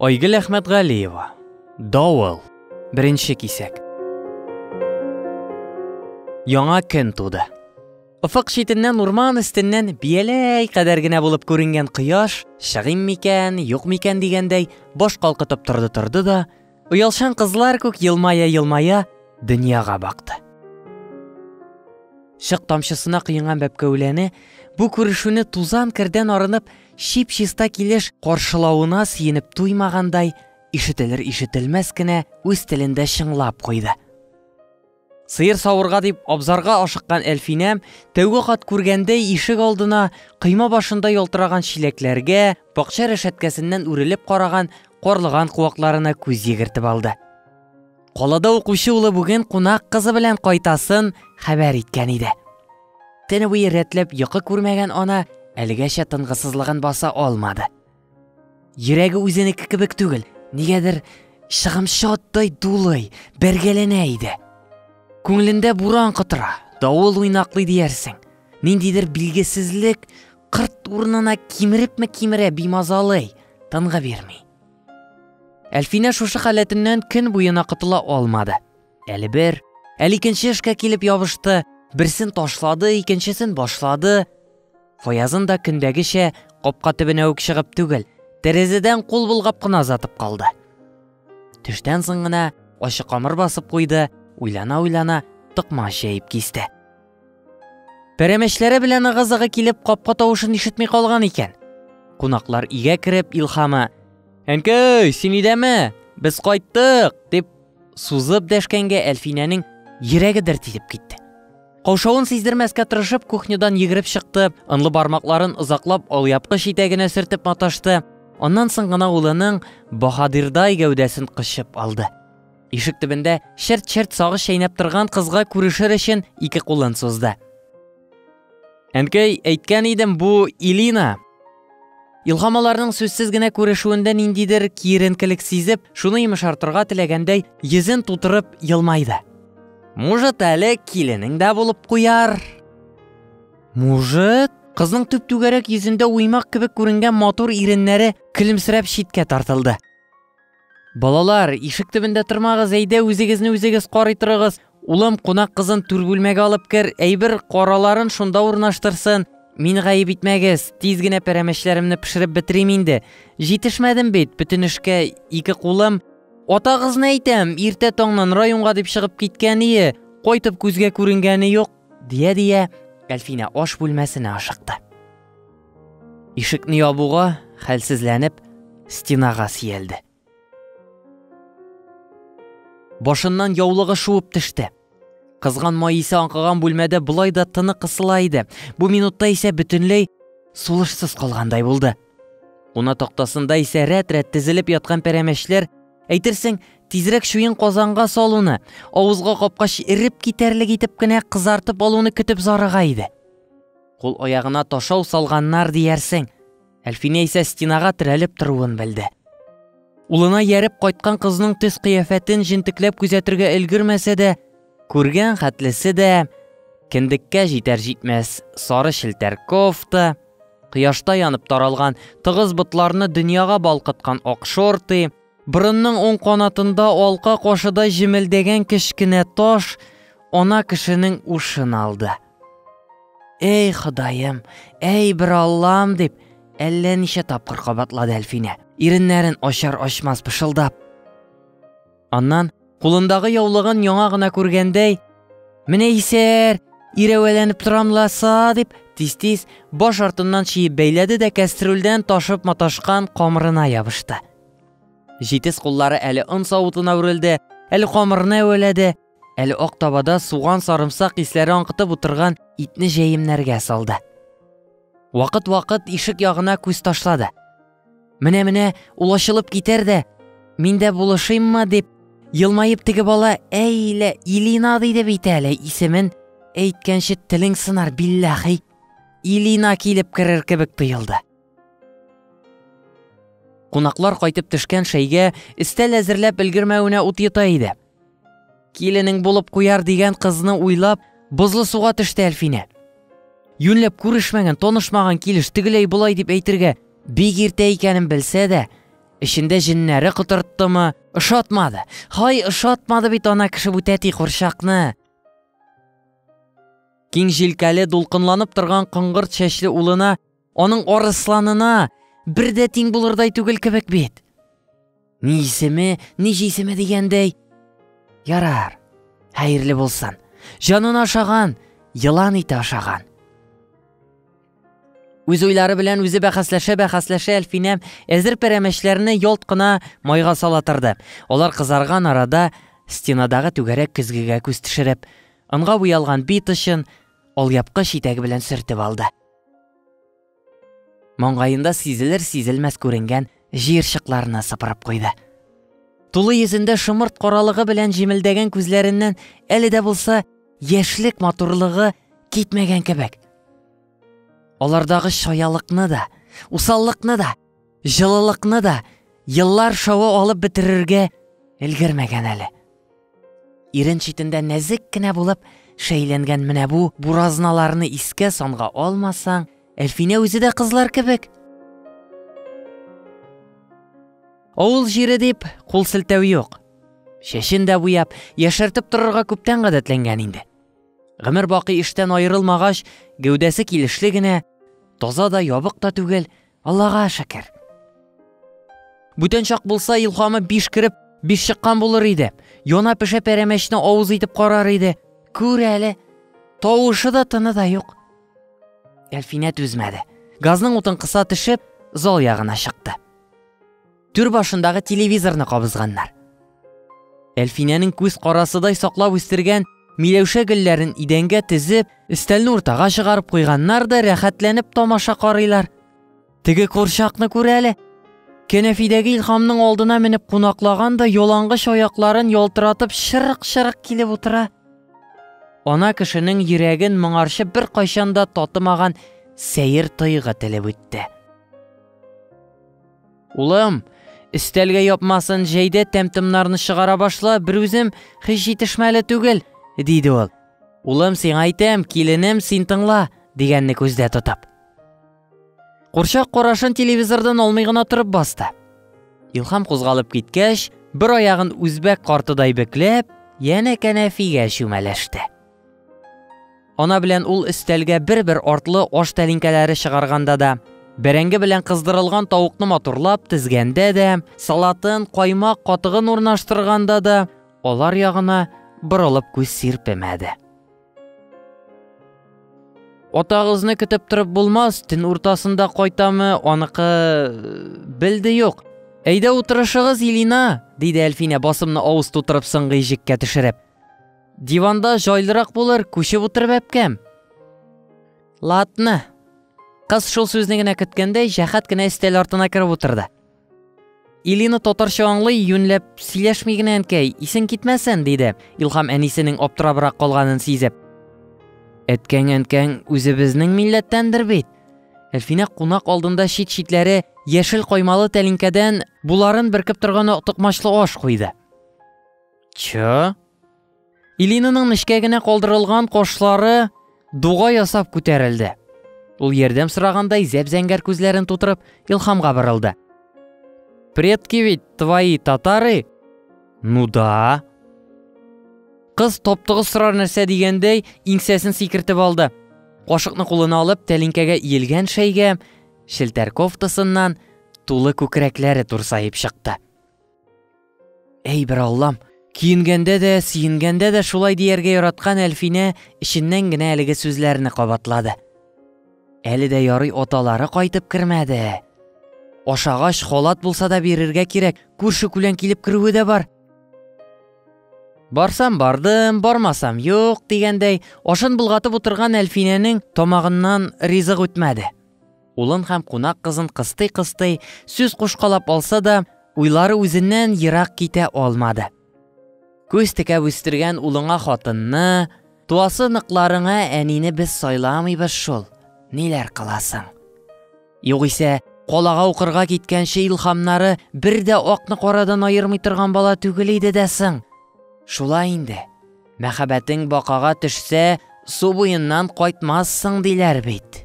Айгөл Әхмәтгалиева. Давыл. Беренче кисәк. Яңа көн туды. Офык читеннән урман өстеннән бияләй кадәр генә булып күренгән кояш, чыгыйм микән, юк микән дигәндәй, баш калкытып торды торды да, оялшан кызлар күк елмая елмая дөньяга бакты. Шык тамчысына кыйнган бәпкәүләне бу күрешүне тузан кердән арынып Чип-чиста килеш каршылавына сөенеп туймагандай, ишетелер-ишетелмәс кенә үз телендә чыңлап куйды. Сыер савырга дип абзарга ашыккан Әлфинәм тәүге кат күргәндәй ишек алдына кыйма башында ялтыраган чиләкләргә, бакча рәшәткәсеннән үрелеп караган карлыган куакларына күз йөгертеп алды. Калада укучы улы бүген кунак кызы белән кайтасын хәбәр иткән иде. Төне буе рәтләп йокы күрмәгән ана әлегәчә тынгысызлыгын баса алмады. Йөрәге үзенеке кебек түгел, нигәдер чыгымчы аттай дулый, бәргәләнә иде. Күңелендә буран котыра, давыл уйнаклый диярсең. Ниндидер билгесезлек кырт урынына кимерепме кимерә бимазалый, тынгы бирми. Әлфинә шушы халәтеннән көн буена котыла алмады. Әле бер, әле икенче эшкә килеп ябышты, берсен ташлады, икенчесен башлады. Фаязын да көндәгечә капка төбенә үк чыгып түгел, тәрәзәдән кул болгап кына озатып калды. Төштән соң гына ачы камыр басып куйды, уйлана-уйлана токмач җәеп кисте. Пәрәмәчләре белән ыгы-зыгы килеп капка тавышын ишетми калган икән. Кунаклар игә кереп Илхама «Әнкәй, син идәме? Без кайттык!» дип сузып дәшкәнгә Әлфинәнең йөрәге дер тилеп китте. Каушавын сиздермәскә тырышып кухнядан йөгереп чыкты, ынлы бармакларын озаклап алъяпкыч итәгенә сөртеп маташты, аннан соң гына улының баһадирдай гәүдәсен кочып алды. Ишек төбендә черт-черт сагыш чәйнәп торган кызга күрешер өчен ике кулын сузды. Әнкәй, әйткән идем, бу Илина. Илхам аларның сүзсез генә күрешүендә ниндидер киеренкелек сизеп, шуны йомшартырга теләгәндәй, йөзен тутырып елмайды. Может, әле киленең дә булып куяр. Может, кызның төп түгәрәк йөзендә уймак кебек күренгән матур иреннәре көлемсерәп читкә тартылды. Балалар, ишек төбендә тормагыз, әйдә үзегезне үзегез карый торыгыз. Улым, кунак кызын түр бүлмәгә алып кер, әйбер караларын шунда урнаштырсын. Мин гаеп итмәгез, тиз генә пәрәмәчләремне пешереп бетерим инде. Җитешмәдем бит, бөтен эшкә ике кулым. Атагызны әйтәм, иртә таңнан районга дип чыгып киткән ие, кайтып күзгә күренгәне юк, дия-дия, Әлфинә аш бүлмәсенә ашыкты. Ишекне ябуга, хәлсезләнеп, стенага сиялде. Башыннан яулыгы шуып төште. Кызган май исе аңкыган бүлмәдә болай да тыны кысыла иде. Бу минутта исә бөтенләй сулышсыз калгандай булды. Куна тактасында исә рәт-рәт тезелеп яткан пәрәмәчләр, әйтерсең, тизрәк чуен казанга салуны, авызга капкач эреп китәрлек итеп кенә кызартып алуны көтеп зарыга иде. Кул-аягына ташау салганнар диярсең. Әлфинә исә стенага терәлеп торуын белде. Улына яреп кайткан кызның төс-кыяфәтен җентекләп күзәтергә өлгермәсә дә, күргән хәтлесе дә кендеккә җитәр-җитмәс сары челтәр кофта, кояшта янып таралган тыгыз ботларны дөньяга балкыткан ак шорты, Борынның уң канатында алка кашыдай җемелдәгән кечкенә таш ана кешенең ушын алды. Әй Ходаем, әй бер Аллам дип, әллә ничә тапкыр кабатлады Әлфинә, иреннәрен ачар-ачмас пышылдап. Аннан Кулындагы яулыгын яңа гына күргәндәй, Менә исәр, ирәвәләнеп торам ласа, дип, тиз-тиз баш артыннан чиеп бәйләде дә кәстрүлдән ташып маташкан камырына ябышты. Җитез куллары әле он савытына үрелде, әле камырны әвәләде, әле ак табада суган сарымсак исләре аңкытып утырган итне җәемнәргә салды. Вакыт-вакыт ишек ягына күз ташлады. Менә-менә ул ачылып китәр дә, мин дә булышыйммы дип, елмаеп теге бала әйлә Илина диде бит әле исемен әйткәнче телең сынар билләхи. Илина килеп керер кебек тоелды. Кунаклар кайтып төшкән шәйгә өстәл әзерләп өлгермәвенә ут йота иде. Киленең булып куяр дигән кызны уйлап, бозлы суга төште Әлфинә. Юньләп күрешмәгән, тонышмаган килеш тегеләй болай дип әйтергә бик иртә икәнен белсә дә, эчендә җеннәре котырттымы, ошатмады. Хай, ошатмады бит ана кеше бу тәти курчакны. Киң җилкәле, дулкынланып торган коңгырт чәчле улына Аның арысланына бер дә тиң булырдай түгел кебек бит. Ни исеме, ни җисеме дигәндәй. Ярар, хәерле булсын. Җанын ашаган, елан ите ашаган. Үз уйлары белән үзе бәхәсләшә-бәхәсләшә Әлфинә әзер пәрәмәчләрне ялт кына майга сала торды. Алар кызарган арада стенадагы түгәрәк көзгегә күз төшереп, онга буялган бит очын алъяпкыч итәге белән сөртеп алды. Маңгаенда сизелер-сизелмәс күренгән җыерчыкларны сыпырып куйды. Тулы йөзендә шымырт каралыгы белән җимелдәгән күзләреннән әле дә булса яшьлек матурлыгы китмәгән кебек. Алардагы чаялыкны да, усаллыкны да җылылыкны да еллар шавы алып бетерергә өлгермәгән әле. Ирен читендә нәзек кенә булып шәйләнгән менә бу буразналарны искә санга алмасаң, Әлфинә үзе дә кызлар кебек. Авыл җире дип кул селтәү юк. Чәчен дә буяп, яшәртеп торырга күптән гадәтләнгән инде. Гомер бакый эштән аерылмагач, гәүдәсе килешле генә, таза да ябык та түгел, Аллага шәкер. Бүтән чак булса, илхамы биш кереп, биш чыккан булыр иде. Яна пешә пәрәмәчне авыз итеп карар иде. Күр әле, тавышы да тыны да юк. Әлфинә түзмәде. Газның утын кыса төшеп, зал ягына чыкты. Түр башындагы телевизорны кабызганнар. Әлфинәнең күз карасыдай саклап үстергән Миләүшә гөлләрен идәнгә тезеп, өстәлне уртага чыгарып куйганнар да рәхәтләнеп тамаша карыйлар. Теге курчакны күр әле. Кәнәфидәге Илхамның алдына менеп кунаклаган да ялангыч аякларын ялтыратып шырык-шырык килеп утыра. Ана кешенең йөрәген моңарчы бер кайчанда татымаган сәер тойгы телеп үтте. Улым, өстәлгә япмасын җәй дә тәм-томнарны чыгара башла, берүзем һич җитешмәле түгел, диде ул. Улым, сиңа әйтәм, киленем, син тыңла, дигәнне күздә тотып. Курчак карашын телевизордан алмый гына торып басты. Илхам кузгалып киткәч, бер аягын үзбәк картыдай бекләп, янә кәнәфигә чүмәләште. Ана белән ул өстәлгә бер-бер артлы аш тәлинкәләре чыгарганда да, бәрәңге белән кыздырылган тавыкны матурлап тезгәндә дә, салатын, каймак, катыгын урнаштырганда да алар ягына борылып күз сирпемәде. Атагызны көтеп торып булмас, төн уртасында кайтамы, аныкы белде юк. Әйдә утырышыгыз, Илина, диде Әлфинә басымны авыз тутырып сыңгы ижеккә төшереп. Диванда җайлырак булыр, күчеп утыр бәпкәм. Латны. Кыз шул сүзне генә көткәндәй, җәхәт кенә өстәл артына кереп утырды. Илина татарча аңлый, юньләп, сөйләшми генә әнкәй, исең китмәсен, диде. Илхам әнисенең аптырабрак калганын сизеп. Әткәң әнкәң үзебезнең милләттәндер бит. Әлфинә кунак алдында чит-читләре яшел каймалы тәлинкәдән буларын беркеп торган токмачлы аш куйды. Чы? Илинаның нечкә генә калдырылган кашлары дуга ясап күтәрелде. Ул ярдәм сорагандай зәп-зәңгәр күзләрен тутырып Илхамга борылды. Предки ведь твои татары? Ну да. Кыз топтыгы сорар нәрсә дигәндәй иңсәсен сикертеп алды. Кашыкны кулына алып, тәлинкәгә иелгән шәйгә челтәр кофтасыннан тулы күкрәкләре турсаеп чыкты. Әй бер Аллам, киенгәндә дә, сиенгәндә дә шулай дияргә яраткан Әлфинә эченнән генә әлеге сүзләрне кабатлады. Әле дә ярый оталары кайтып кермәде. Ашагач холат булса да бирергә кирәк, күрше күлән килеп керүе дә бар. Барсам бардым, бармасам юк дигәндәй, ашын булгатып утырган Әлфинәнең тамагыннан ризык үтмәде. Улын һәм кунак кызын кыстый-кыстый, сүз кушкалап алса да, уйлары үзеннән ерак китә алмады. Күз текәп үстергән улыңа хатынны, туасы ныкларыңа әнине без сайламыйбыз шул. Ниләр кыласың? Югыйсә, калага укырга киткәнче илхамнары бер дә акны карадан аермый торган бала түгел иде дә соң. Шулай инде. Мәхәббәтең бакага төшсә, су буеннан кайтмассың, диләр бит.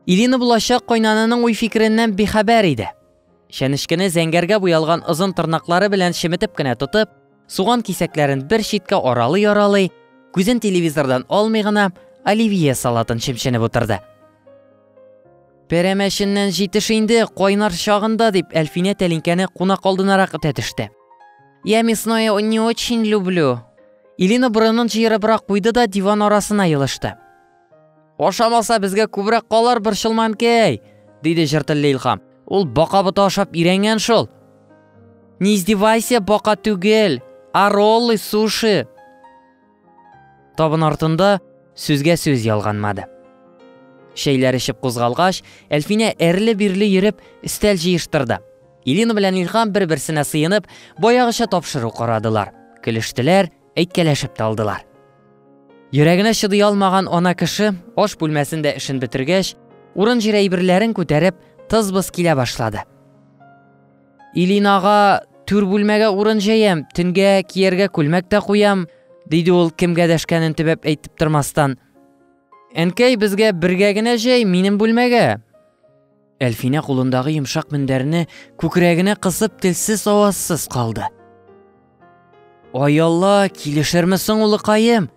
Ирина булачак кайнананың уй-фикереннән бихәбәр иде. Чәнечкене зәңгәргә буялган озын тырнаклары белән шеметеп кенә тотып, суган кисәкләрен бер читкә аралый-аралый, күзен телевизордан алмый гына, оливье салатын чемченеп утырды. Пәрәмәченнән җитеш инде, кайнар чагында, дип, Әлфинә тәлинкәне кунак алдынарак этә төште. Я мясное не очень люблю. Илина борынын җыерыбрак куйды да диван арасына елышты. Ашамаса, безгә күбрәк калар борчылманкәй, диде җыртыллы Илхам. Ул бака боты ашап өйрәнгән шул. Не издевайся, бака түгел, а роллы, суши. Табын артында сүзгә сүз ялганмады. Шәйләр эчеп кузгалгач, Әлфинә әрле-бирле йөреп, өстәл җыештырды. Илина белән Илхам бер-берсенә сыенып, баягыча тапшыру карадылар, көлештеләр, әйткәләшеп тә алдылар. Йөрәгенә чыдый алмаган ана кеше аш бүлмәсендә эшен бетергәч, урын-җир әйберләрен күтәреп, тыз-быз килә башлады. Илинага түр бүлмәгә урын җәям, төнгә кияргә күлмәк тә куям, диде ул кемгә дәшкәнен төбәп әйтеп тормастан. Әнкәй, безгә бергә генә җәй, минем бүлмәгә. Әлфинә кулындагы йомшак мендәрне күкрәгенә кысып телсез авазсыз калды. Аялла, килешерме соң улыкаем?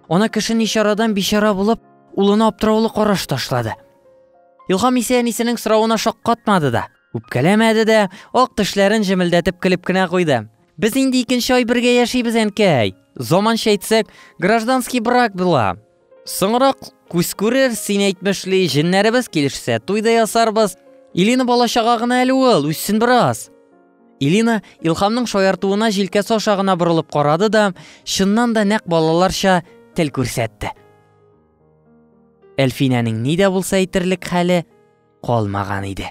Ана кеше ничарадан бичара булып, улына аптыраулы караш ташлады. Илһам исә әнисенең соравына шаккатмады да. Үпкәләмәде дә, ак тешләрен җемелдәтеп көлеп кенә куйды. Без инде икенче ай бергә яшибез, әнкәй. Заманча әйтсәк, гражданский брак була. Соңрак күз күрер, син әйтмешли, җеннәребез килешсә, туй да ясарбыз. Илина бала чага гына әле ул, үссен бераз. Илина Илхамның шаяртуына җилкәсе аша гына борылып карады да, чыннан да нәкъ балаларча тел күрсәтте. Әлфинәнең ни дә булса әйтерлек хәле калмаган иде.